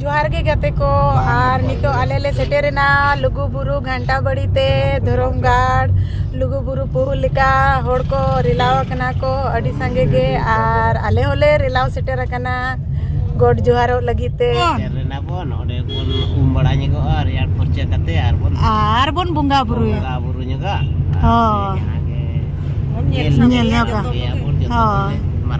ᱡᱚᱦᱟᱨ ᱜᱮ ᱜᱟᱛᱮ ᱠᱚ ᱟᱨ ᱱᱤᱛᱚᱜ ᱟᱞᱮ ᱞᱮ ᱥᱮᱴᱮᱨᱮᱱᱟ ᱞᱩᱜᱩ ᱵᱩᱨᱩ ᱜᱷᱟᱱᱴᱟ ᱵᱟᱲᱤ ᱛᱮ ᱫᱷᱚᱨᱚᱢ ᱜᱟᱲ ᱞᱩᱜᱩ ᱵᱩᱨᱩ ᱯᱩᱦᱩ ᱞᱮᱠᱟ ᱦᱚᱲ ᱠᱚ ᱨᱮᱞᱟᱣ ᱟᱠᱟᱱᱟ ᱠᱚ ᱟᱹᱰᱤ ᱥᱟᱸᱜᱮ ᱜᱮ ᱟᱨ ᱟᱞᱮ ᱦᱚᱸᱞᱮ ᱨᱮᱞᱟᱣ ᱥᱮᱴᱮᱨ ᱟᱠᱟᱱᱟ ᱜᱚᱰ ᱡᱚᱦᱟᱨᱚᱜ ᱞᱟᱹᱜᱤᱫ ᱛᱮ ᱨᱮᱱᱟ ᱵᱚᱱ ᱚᱸᱰᱮ ᱵᱚᱱ ᱩᱢ ᱵᱟᱲᱟ ᱧᱚᱜᱚᱜᱼᱟ ᱨᱮᱭᱟᱲ ᱯᱷᱚᱨᱪᱟ ᱠᱟᱛᱮ ᱟᱨ ᱵᱚᱱ ᱟᱨ ᱵᱚᱱ ᱵᱚᱸᱜᱟ ᱵᱩᱨᱩᱭᱟ ᱵᱚᱸᱜᱟ ᱵᱩᱨᱩ ᱧᱚᱜᱟ ᱦᱳᱭ ᱧᱮᱞ ᱧᱚᱜᱟ ᱦᱳᱭ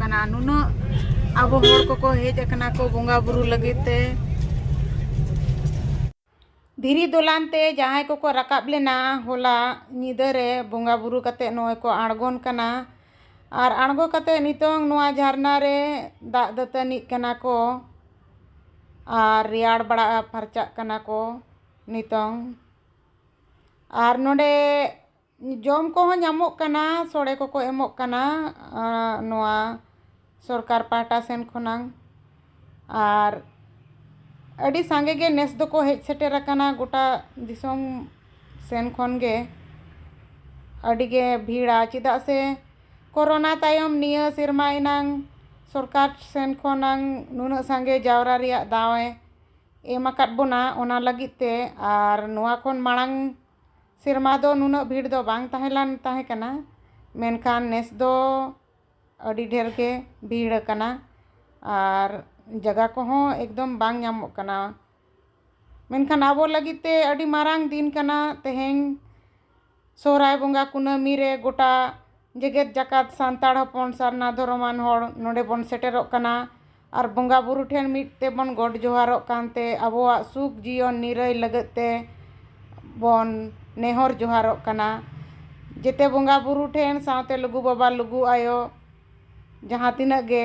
ᱠᱟᱱᱟ ᱱᱩᱱᱟᱹᱜ ᱟᱵᱚ ᱦᱚᱲ ᱠᱚᱠᱚ ᱦᱮᱡ ᱟᱠᱟᱱᱟ ᱠᱚ ᱵᱚᱸᱜᱟ ᱵᱩᱨᱩ ᱞᱟᱹᱜᱤᱫ ᱛᱮ ᱫᱷᱤᱨᱤ ᱫᱚᱞᱟᱱ ᱛᱮ ᱡᱟᱦᱟᱸᱭ ᱠᱚᱠᱚ ᱨᱟᱠᱟᱵ ᱞᱮᱱᱟ ᱦᱚᱞᱟ ᱧᱤᱫᱟᱹ ᱨᱮ ᱵᱚᱸᱜᱟ ᱵᱩᱨᱩ ᱠᱟᱛᱮ ᱱᱚᱜᱼᱚᱭ ᱠᱚ ᱟᱬᱜᱚᱱ ᱠᱟᱱᱟ ᱟᱨ ᱟᱬᱜᱚ ᱠᱟᱛᱮ ᱱᱤᱛᱚᱝ ᱱᱚᱣᱟ ᱡᱷᱟᱨᱱᱟ ᱨᱮ ᱫᱟᱜ ᱫᱟᱹᱛᱟᱹᱱᱤᱜ ᱠᱟᱱᱟ ᱠᱚ ᱟᱨ ᱨᱮᱭᱟᱲ ᱵᱟᱲᱟ ᱯᱷᱟᱨᱪᱟᱜ ᱠᱟᱱᱟ ᱠᱚ ᱱᱤᱛᱚᱝ ᱟᱨ ᱱᱚᱰᱮ ᱡᱚᱢ ᱠᱚᱦᱚᱸ ᱧᱟᱢᱚᱜ ᱠᱟᱱᱟ ᱥᱚᱲᱮ ᱠᱚᱠᱚ ᱮᱢᱚᱜ ᱠᱟᱱᱟ ᱱᱚᱣᱟ ᱥᱚᱨᱠᱟᱨ ᱯᱟᱦᱴᱟ ᱥᱮᱱ ᱠᱷᱚᱱᱟᱜ ᱟᱨ ᱟᱹᱰᱤ ᱥᱟᱸᱜᱮ ᱜᱮ ᱱᱮᱥ ᱫᱚᱠᱚ ᱦᱮᱡ ᱥᱮᱴᱮᱨ ᱟᱠᱟᱱᱟ ᱜᱚᱴᱟ ᱫᱤᱥᱚᱢ ᱥᱮᱱ ᱠᱷᱚᱱ ᱜᱮ ᱟᱹᱰᱤ ᱜᱮ ᱵᱷᱤᱲᱟ ᱪᱮᱫᱟᱜ ᱥᱮ ᱠᱚᱨᱳᱱᱟ ᱛᱟᱭᱚᱢ ᱱᱤᱭᱟᱹ ᱥᱮᱨᱢᱟ ᱮᱱᱟᱝ ᱥᱚᱨᱠᱟᱨ ᱥᱮᱱ ᱠᱷᱚᱱᱟᱜ ᱱᱩᱱᱟᱹᱜ ᱥᱟᱸᱜᱮ ᱡᱟᱣᱨᱟ ᱨᱮᱭᱟᱜ ᱫᱟᱣᱮ ᱮᱢ ᱟᱠᱟᱫ ᱵᱚᱱᱟ ᱚᱱᱟ ᱞᱟᱹᱜᱤᱫ ᱛᱮ ᱟᱨ ᱱᱚᱣᱟ ᱠᱷᱚᱱ ᱢᱟᱲᱟᱝ ᱥᱮᱨᱢᱟ ᱫᱚ ᱱᱩᱱᱟᱹᱜ ᱵᱷᱤᱲ ᱫᱚ ᱵᱟᱝ ᱛᱟᱦᱮᱸ ᱞᱮᱱ ᱛᱟᱦᱮᱸ ᱠᱟᱱᱟ ᱢᱮᱱᱠᱷᱟᱱ ᱱᱮᱥ ᱫᱚ ᱟᱹᱰᱤ ᱰᱷᱮᱨ ᱜᱮ ᱵᱷᱤᱲ ᱟᱠᱟᱱᱟ ᱟᱨ ᱡᱟᱭᱜᱟ ᱠᱚᱦᱚᱸ ᱮᱠᱫᱚᱢ ᱵᱟᱝ ᱧᱟᱢᱚᱜ ᱠᱟᱱᱟ ᱢᱮᱱᱠᱷᱟᱱ ᱟᱵᱚ ᱞᱟᱹᱜᱤᱫ ᱛᱮ ᱟᱹᱰᱤ ᱢᱟᱨᱟᱝ ᱫᱤᱱ ᱠᱟᱱᱟ ᱛᱮᱦᱮᱧ ᱥᱚᱦᱚᱨᱟᱭ ᱵᱚᱸᱜᱟ ᱠᱩᱱᱟᱹᱢᱤ ᱨᱮ ᱜᱚᱴᱟ ᱡᱮᱜᱮᱛ ᱡᱟᱠᱟᱛ ᱥᱟᱱᱛᱟᱲ ᱦᱚᱯᱚᱱ ᱥᱟᱨᱱᱟ ᱫᱷᱚᱨᱚᱢᱟᱱ ᱦᱚᱲ ᱱᱚᱰᱮ ᱵᱚᱱ ᱥᱮᱴᱮᱨᱚᱜ ᱠᱟᱱᱟ ᱟᱨ ᱵᱚᱸᱜᱟ ᱵᱳᱨᱳ ᱴᱷᱮᱱ ᱢᱤᱫ ᱛᱮᱵᱚᱱ ᱜᱚᱰ ᱡᱚᱦᱟᱨᱚᱜ ᱠᱟᱱᱛᱮ ᱟᱵᱚᱣᱟᱜ ᱥᱩᱠ ᱡᱤᱭᱚᱱ ᱱᱤᱨᱟᱹᱭ ᱞᱟᱹᱜᱤᱫ ᱛᱮ ᱵᱚᱱ ᱱᱮᱦᱚᱨ ᱡᱚᱦᱟᱨᱚᱜ ᱠᱟᱱᱟ ᱡᱮᱛᱮ ᱵᱚᱸᱜᱟ ᱵᱳᱨᱳ ᱴᱷᱮᱱ ᱥᱟᱶᱛᱮ ᱞᱩᱜᱩ ᱵᱟᱵᱟ ᱞᱩᱜᱩ ᱟᱭᱳ ᱡᱟᱦᱟᱸ ᱛᱤᱱᱟᱹᱜ ᱜᱮ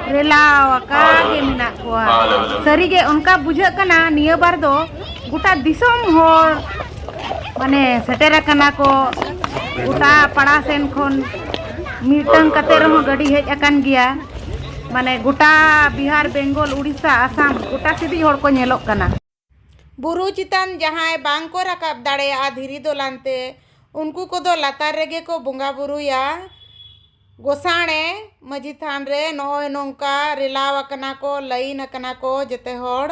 ᱨᱮᱞᱟᱣ ᱟᱠᱟ ᱜᱮ ᱢᱮᱱᱟᱜ ᱠᱚᱣᱟ ᱥᱟᱹᱨᱤ ᱜᱮ ᱚᱱᱠᱟ ᱵᱩᱡᱷᱟᱹᱜ ᱠᱟᱱᱟ ᱱᱤᱭᱟᱹ ᱵᱟᱨ ᱫᱚ ᱜᱚᱴᱟ ᱫᱤᱥᱚᱢ ᱦᱚᱲ ᱢᱟᱱᱮ ᱥᱮᱴᱮᱨ ᱟᱠᱟᱱᱟ ᱠᱚ ᱜᱚᱴᱟ ᱯᱟᱲᱟ ᱥᱮᱱ ᱠᱷᱚᱱ ᱢᱤᱫᱴᱟᱝ ᱠᱟᱛᱮ ᱨᱮᱦᱚᱸ ᱜᱟᱹᱰᱤ ᱦᱮᱡ ᱟᱠᱟᱱ ᱜᱮᱭᱟ ᱢᱟᱱᱮ ᱜᱚᱴᱟ ᱵᱤᱦᱟᱨ ᱵᱮᱝᱜᱚᱞ ᱩᱲᱤᱥᱥᱟ ᱟᱥᱟᱢ ᱜᱚᱴᱟ ᱥᱮᱫᱤᱡ ᱦᱚᱲ ᱠᱚ ᱧᱮᱞᱚᱜ ᱠᱟᱱᱟ ᱵᱩᱨᱩ ᱪᱮᱛᱟᱱ ᱡᱟᱦᱟᱸᱭ ᱵᱟᱝ ᱠᱚ ᱨᱟᱠᱟᱵ ᱫᱟᱲᱮᱭᱟᱜᱼᱟ ᱫᱷᱤᱨᱤ ᱫᱚᱞᱟᱱ ᱛᱮ ᱩᱱᱠᱩ ᱠᱚᱫᱚ ᱞᱟᱛᱟᱨ ᱨᱮᱜᱮ ᱠᱚ ᱵᱚᱸᱜᱟ ᱵᱩᱨᱩᱭᱟ ᱜᱚᱥᱟᱬᱮ ᱢᱟᱹᱡᱷᱤ ᱛᱷᱟᱱ ᱨᱮ ᱱᱚᱜᱼᱚᱭ ᱱᱚᱝᱠᱟ ᱨᱮᱞᱟᱣ ᱟᱠᱟᱱᱟ ᱠᱚ ᱞᱟᱭᱤᱱ ᱟᱠᱟᱱᱟ ᱠᱚ ᱡᱮᱛᱮ ᱦᱚᱲ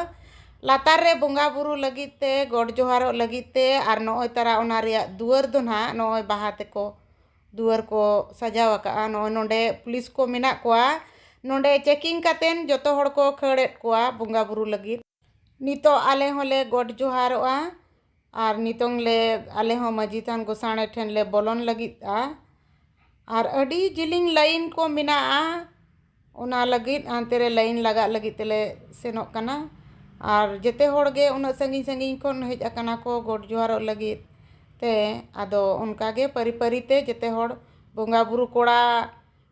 ᱞᱟᱛᱟᱨ ᱨᱮ ᱵᱚᱸᱜᱟ ᱵᱩᱨᱩ ᱞᱟᱹᱜᱤᱫ ᱛᱮ ᱜᱚᱰ ᱡᱚᱦᱟᱨᱚᱜ ᱞᱟᱹᱜᱤᱫ ᱛᱮ ᱟᱨ ᱱᱚᱜᱼᱚᱭ ᱛᱟᱨᱟ ᱚᱱᱟ ᱨᱮᱭᱟᱜ ᱫᱩᱣᱟᱹᱨ ᱫᱚ ᱱᱟᱦᱟᱜ ᱱᱚᱜᱼᱚᱭ ᱵᱟᱦᱟ ᱛᱮᱠᱚ ᱫᱩᱣᱟᱹᱨ ᱠᱚ ᱥᱟᱡᱟᱣ ᱟᱠᱟᱫᱼᱟ ᱱᱚᱜᱼᱚᱭ ᱱᱚᱰᱮ ᱯᱩᱞᱤᱥ ᱠᱚ ᱢᱮᱱᱟᱜ ᱠᱚᱣᱟ ᱱᱚᱰᱮ ᱪᱮᱠᱤᱝ ᱠᱟᱛᱮᱫ ᱡᱚᱛᱚ ᱦᱚᱲ ᱠᱚ ᱠᱷᱟᱹᱲᱮᱫ ᱠᱚᱣᱟ ᱵᱚᱸᱜᱟ ᱵᱩᱨᱩ ᱞᱟᱹᱜᱤᱫ ᱱᱤᱛᱚᱜ ᱟᱞᱮ ᱦᱚᱸᱞᱮ ᱜᱚᱰ ᱡᱚᱦᱟᱨᱚᱜᱼᱟ ᱟᱨ ᱱᱤᱛᱚᱝ ᱞᱮ ᱟᱞᱮ ᱦᱚᱸ ᱢᱟᱺᱡᱷᱤ ᱛᱷᱟᱱ ᱜᱚᱥᱟᱬᱮ ᱴᱷᱮᱱ ᱞᱮ ᱵᱚᱞᱚᱱ ᱞᱟᱹᱜᱤᱫᱼᱟ ᱟᱨ ᱟᱹᱰᱤ ᱡᱤᱞᱤᱧ ᱞᱟᱭᱤᱱ ᱠᱚ ᱢᱮᱱᱟᱜᱼᱟ ᱚᱱᱟ ᱞᱟᱹᱜᱤᱫ ᱦᱟᱱᱛᱮ ᱨᱮ ᱞᱟᱭᱤᱱ ᱞᱟᱜᱟᱜ ᱞᱟᱹᱜᱤᱫ ᱛᱮᱞᱮ ᱥᱮᱱᱚᱜ ᱠᱟᱱᱟ ᱟᱨ ᱡᱚᱛᱚ ᱦᱚᱲ ᱜᱮ ᱩᱱᱟᱹᱜ ᱥᱟᱺᱜᱤᱧ ᱥᱟᱺᱜᱤᱧ ᱠᱷᱚᱱ ᱦᱮᱡ ᱟᱠᱟᱱᱟ ᱠᱚ ᱜᱚᱰ ᱡᱚᱦᱟᱨᱚᱜ ᱞᱟᱹᱜᱤᱫ ᱛᱮ ᱟᱫᱚ ᱚᱱᱠᱟ ᱜᱮ ᱯᱟᱹᱨᱤ ᱯᱟᱹᱨᱤ ᱛᱮ ᱡᱚᱛᱚ ᱦᱚᱲ ᱵᱚᱸᱜᱟᱼᱵᱩᱨᱩ ᱠᱚᱲᱟ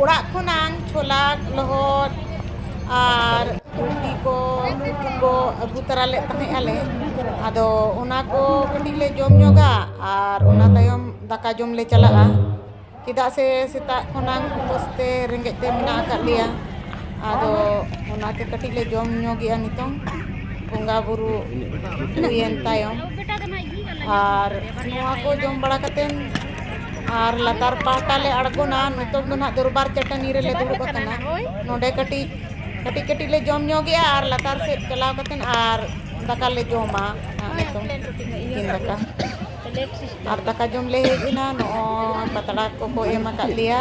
ᱚᱲᱟᱜ ᱠᱷᱚᱱᱟᱝ ᱪᱷᱚᱞᱟ ᱞᱚᱦᱚᱫ ᱟᱨ ᱨᱩᱴᱤ ᱠᱚ ᱩᱛᱩ ᱠᱚ ᱟᱹᱜᱩ ᱛᱟᱨᱟ ᱞᱮᱫ ᱛᱟᱦᱮᱸᱫ ᱟᱞᱮ ᱟᱫᱚ ᱚᱱᱟ ᱠᱚ ᱠᱟᱹᱴᱤᱡ ᱞᱮ ᱡᱚᱢ ᱧᱚᱜᱟ ᱟᱨ ᱚᱱᱟ ᱛᱟᱭᱚᱢ ᱫᱟᱠᱟ ᱡᱚᱢ ᱞᱮ ᱪᱟᱞᱟᱜᱼᱟ ᱪᱮᱫᱟᱜ ᱥᱮ ᱥᱮᱛᱟᱜ ᱠᱷᱚᱱᱟᱝ ᱩᱯᱟᱹᱥ ᱛᱮ ᱨᱮᱸᱜᱮᱡ ᱛᱮ ᱢᱮᱱᱟᱜ ᱟᱠᱟᱫ ᱞᱮᱭᱟ ᱟᱫᱚ ᱚᱱᱟᱛᱮ ᱠᱟᱹᱴᱤᱡ ᱞᱮ ᱡᱚᱢ ᱧᱚᱜᱮᱜᱼᱟ ᱱᱤᱛᱚᱝ ᱵᱚᱸᱜᱟ ᱵᱳᱨᱳ ᱦᱩᱭᱮᱱ ᱛᱟᱭᱚᱢ ᱟᱨ ᱱᱚᱣᱟ ᱠᱚ ᱡᱚᱢ ᱵᱟᱲᱟ ᱠᱟᱛᱮᱫ ᱟᱨ ᱞᱟᱛᱟᱨ ᱯᱟᱦᱴᱟ ᱞᱮ ᱟᱬᱜᱚᱱᱟ ᱱᱤᱛᱚᱜ ᱫᱚ ᱱᱟᱦᱟᱜ ᱫᱚᱨᱵᱟᱨ ᱪᱟᱹᱴᱟᱹᱱᱤ ᱨᱮᱞᱮ ᱫᱩᱲᱩᱵ ᱟᱠᱟᱱᱟ ᱱᱚᱰᱮ ᱠᱟᱹᱴᱤᱡ ᱠᱟᱹᱴᱤᱡ ᱠᱟᱹᱴᱤᱡ ᱞᱮ ᱡᱚᱢ ᱧᱚᱜᱮᱜᱼᱟ ᱟᱨ ᱞᱟᱛᱟᱨ ᱥᱮᱫ ᱪᱟᱞᱟᱣ ᱠᱟᱛᱮᱫ ᱟᱨ ᱫᱟᱠᱟ ᱞᱮ ᱡᱚᱢᱟ ᱱᱤᱛᱚᱝ ᱛᱤᱠᱤᱱ ᱫᱟᱠᱟ ᱟᱨ ᱫᱟᱠᱟ ᱡᱚᱢ ᱞᱮ ᱦᱮᱡ ᱮᱱᱟ ᱱᱚᱜᱼᱚᱭ ᱯᱟᱛᱲᱟ ᱠᱚᱠᱚ ᱮᱢ ᱟᱠᱟᱫ ᱞᱮᱭᱟ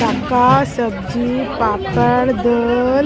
ᱫᱟᱠᱟ ᱥᱚᱵᱽᱡᱤ ᱯᱟᱯᱚᱲ ᱫᱟᱹᱞ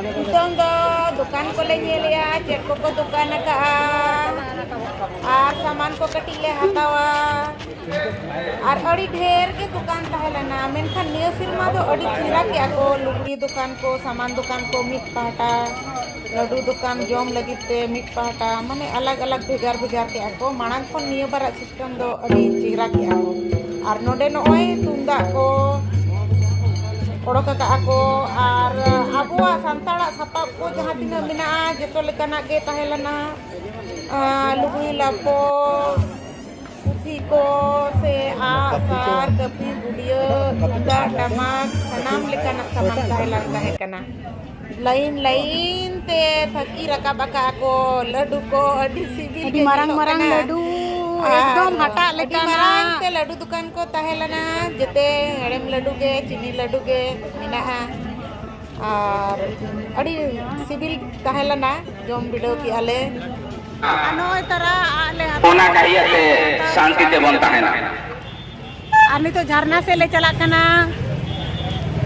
ᱱᱤᱛᱚᱝ ᱫᱚ ᱫᱚᱠᱟᱱ ᱠᱚᱞᱮ ᱧᱮᱞᱮᱜᱼᱟ ᱪᱮᱫ ᱠᱚᱠᱚ ᱫᱚᱠᱟᱱ ᱟᱠᱟᱜᱼᱟ ᱟᱨ ᱥᱟᱢᱟᱱ ᱠᱚ ᱠᱟᱹᱴᱤᱡ ᱞᱮ ᱦᱟᱛᱟᱣᱟ ᱟᱨ ᱟᱹᱰᱤ ᱰᱷᱮᱨ ᱜᱮ ᱫᱚᱠᱟᱱ ᱛᱟᱦᱮᱸ ᱞᱮᱱᱟ ᱢᱮᱱᱠᱷᱟᱱ ᱱᱤᱭᱟᱹ ᱥᱮᱨᱢᱟ ᱫᱚ ᱟᱹᱰᱤ ᱪᱮᱦᱨᱟ ᱠᱮᱜᱼᱟ ᱠᱚ ᱞᱩᱜᱽᱲᱤ ᱫᱚᱠᱟᱱ ᱠᱚ ᱥᱟᱢᱟᱱ ᱫᱚᱠᱟᱱ ᱠᱚ ᱢᱤᱫ ᱯᱟᱦᱴᱟ ᱞᱟᱹᱰᱩ ᱫᱚᱠᱟᱱ ᱡᱚᱢ ᱞᱟᱹᱜᱤᱫ ᱛᱮ ᱢᱤᱫ ᱯᱟᱦᱴᱟ ᱢᱟᱱᱮ ᱟᱞᱟᱜᱽ ᱟᱞᱟᱜᱽ ᱵᱷᱮᱜᱟᱨ ᱵᱷᱮᱜᱟᱨ ᱠᱮᱜᱼᱟ ᱠᱚ ᱢᱟᱲᱟᱝ ᱠᱷᱚᱱ ᱱᱤᱭᱟᱹ ᱵᱟᱨᱟᱜ ᱱᱤᱛᱚᱝ ᱫᱚ ᱟᱹᱰᱤ ᱪᱮᱦᱨᱟ ᱠᱮᱜᱼᱟ ᱠᱚ ᱟᱨ ᱱᱚᱰᱮ ᱱᱚᱜᱼᱚᱭ ᱛᱩᱢᱫᱟᱜ ᱠᱚ ᱚᱰᱚᱠ ᱟᱠᱟᱜᱼᱟ ᱠᱚ ᱟᱨ ᱟᱵᱚᱣᱟᱜ ᱥᱟᱱᱛᱟᱲᱟᱜ ᱥᱟᱯᱟᱵ ᱠᱚ ᱡᱟᱦᱟᱸ ᱛᱤᱱᱟᱹᱜ ᱢᱮᱱᱟᱜᱼᱟ ᱡᱚᱛᱚ ᱞᱮᱠᱟᱱᱟᱜ ᱜᱮ ᱛᱟᱦᱮᱸ ᱞᱮᱱᱟ ᱞᱩᱜᱽᱲᱤ ᱞᱟᱯᱚ ᱯᱩᱛᱷᱤ ᱠᱚ ᱥᱮ ᱟᱜ ᱥᱟᱨ ᱠᱟᱹᱯᱤ ᱜᱩᱰᱭᱟᱹ ᱛᱩᱢᱫᱟᱜ ᱴᱟᱢᱟᱠ ᱥᱟᱱᱟᱢ ᱞᱮᱠᱟᱱᱟᱜ ᱥᱟᱢᱟᱱ ᱛᱟᱦᱮᱸ ᱞᱮᱱ ᱛᱟᱦᱮᱸ ᱠᱟᱱᱟ ᱞᱟᱭᱤᱱ ᱞᱟᱭᱤᱱ ᱛᱮ ᱛᱷᱟᱹᱠᱤ ᱨᱟᱠᱟᱵ ᱟᱠᱟᱫ ᱠᱚ ᱞᱟᱹᱰᱩ ᱠᱚ ᱟᱹᱰᱤ ᱥᱤᱵᱤᱞ ᱟᱹᱰᱤ ᱢᱟᱨᱟᱝ ᱢᱟᱨᱟᱝ ᱞᱟᱹᱰᱩ ᱮᱠᱫᱚᱢ ᱦᱟᱴᱟᱜ ᱞᱮᱠᱟ ᱢᱟᱨᱟᱝ ᱛᱮ ᱞᱟᱹᱰᱩ ᱫᱚᱠᱟᱱ ᱠᱚ ᱛᱟᱦᱮᱸ ᱞᱮᱱᱟ ᱡᱮᱛᱮ ᱦᱮᱲᱮᱢ ᱞᱟᱹᱰᱩ ᱜᱮ ᱪᱤᱱᱤ ᱞᱟᱹᱰᱩ ᱜᱮ ᱢᱮᱱᱟᱜᱼᱟ ᱟᱨ ᱟᱹᱰᱤ ᱥᱤᱵᱤᱞ ᱛᱟᱦᱮᱸ ᱞᱮᱱᱟ ᱡᱚᱢ ᱵᱤᱰᱟᱹᱣ ᱠᱮᱜᱼᱟ ᱞᱮ ᱱᱚᱜᱼᱚᱭ ᱛᱟᱨᱟ ᱟᱜ ᱞᱮ ᱦᱟᱛᱟᱣ ᱚᱱᱟ ᱠᱟᱹᱦᱤᱭᱟᱛᱮ ᱥᱟᱱᱛᱤ ᱛᱮᱵᱚᱱ ᱛᱟᱦᱮᱱᱟ ᱟᱨ ᱱᱤᱛᱚᱜ ᱡᱷᱟᱨᱱᱟ ᱥᱮᱫ ᱞᱮ ᱪᱟᱞᱟᱜ ᱠᱟᱱᱟ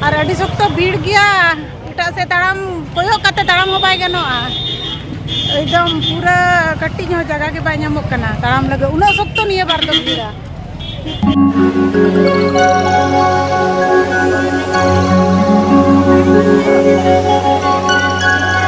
ᱟᱨ ᱟᱹᱰᱤ ᱥᱚᱠᱛᱚ ᱵᱷᱤᱲ ᱜᱮᱭᱟ ᱮᱴᱟᱜ ᱥᱮᱫ ᱛᱟᱲᱟᱢ ᱠᱚᱭᱚᱜ ᱠᱟᱛᱮ ᱛᱟᱲᱟᱢ ᱦᱚᱸ ᱵᱟᱭ ᱜᱟᱱᱚᱜᱼᱟ ᱮᱠᱫᱚᱢ ᱯᱩᱨᱟᱹ ᱠᱟᱹᱴᱤᱡ ᱦᱚᱸ ᱡᱟᱭᱜᱟ ᱜᱮ ᱵᱟᱭ ᱧᱟᱢᱚᱜ ᱠᱟᱱᱟ ᱛᱟᱲᱟᱢ ᱞᱟᱹᱜᱤᱫ ᱩᱱᱟᱹᱜ ᱥᱚᱠᱛᱚ ᱱᱤᱭᱟᱹ ᱵᱟᱨ ᱫᱚ ᱵᱷᱤᱲᱟ